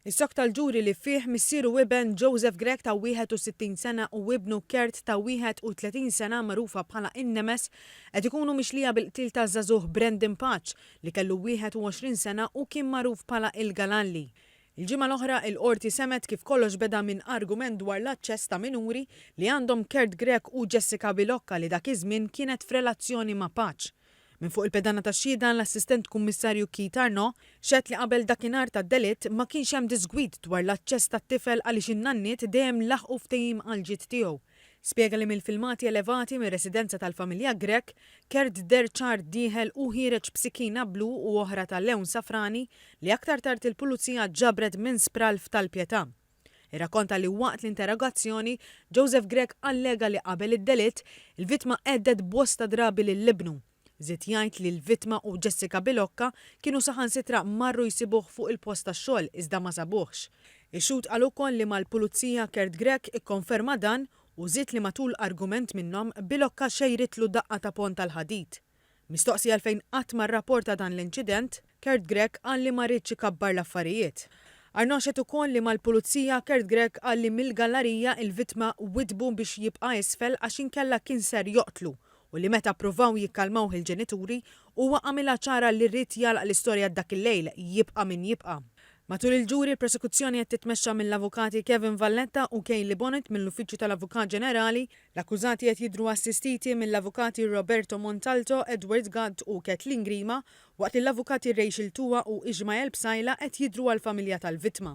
Is-sokta l-ġuri li fih missier u iben Joseph Grech ta' 61 sena u ibnu Kurt ta' 31 sena magħrufa bħala in-Nemes qed ikunu mixlija bil-qtil taż-żagħżugħ Brandon Paċ li kellu 21 sena u kien magħruf bħala il-Galalli. Il-ġimgħa l-oħra, il-Qorti semgħet kif kollox beda minn argument dwar l-aċċess ta' minuri li għandhom Kurt Grech u Jessica Bilocca li dak iż-żmien kienet f'relazzjoni ma' Paċ. Minn fuq il-pedana tax-xhieda, l-Assistent Kummissarju Keith Arnaud xehed li qabel dakinhar tad-delitt ma kienx hemm diżgwid dwar l-aċċess tat-tifel għaliex in-nanniet dejjem laħqu ftehim għall-ġid tiegħu. Spjega li mill-filmati elevati mir-residenza tal-familja Grech, Kert deher ċar dieħel u ħiereġ b'sikkina blu u oħra ta' lewn safrani li aktar tard il-Pulizija ġabret minn spralf tal-pjetà. irrakkonta li waqt l-interrogazzjoni, Joseph Grech allega li qabel id-delitt, il-vittma hedded bosta drabi lil ibnu. Żied jgħid li l-vittma u Jessica Bilocca kienu saħansitra marru jsibuh fuq il-post tax-xogħol iżda ma sabuhx. Ix-xhud qal ukoll li mal-Pulizija Kurt Grech ikkonferma dan u żied li matul argument minnhom, Bilocca xejritlu daqqa ta' pont tal-ħadid. Mistoqsi għalfejn qatt ma rrapporta dan l-inċident, Kurt Grech qal li ma riedx ikabbar l-affarijiet. Arnaud xehed ukoll li mal-Pulizija, Kurt Grech qal li mill-gallarija l-vittma widdbu biex jibqa' isfel għax inkella kien ser joqtlu u li meta ppruvaw jikkalmawh il-ġenituri, huwa għamilha ċara li ried jagħlaq l-istorja dak il-lejl, jibqa' min jibqa'. Matul il-ġuri l-prosekuzzjoni qed titmexxa mill-Avukati Kevin Valletta u Kayleigh Bonnet mill-Uffiċċju tal-Avukat Ġenerali, L-akkużati qed jidhru assistiti mill-avukati Roberto Montalto, Edward Gatt u Kathleen Grima, waqt li l-avukati Rachel Tua u Ishmael Psaila qed jidhru għall-familja tal-vittma.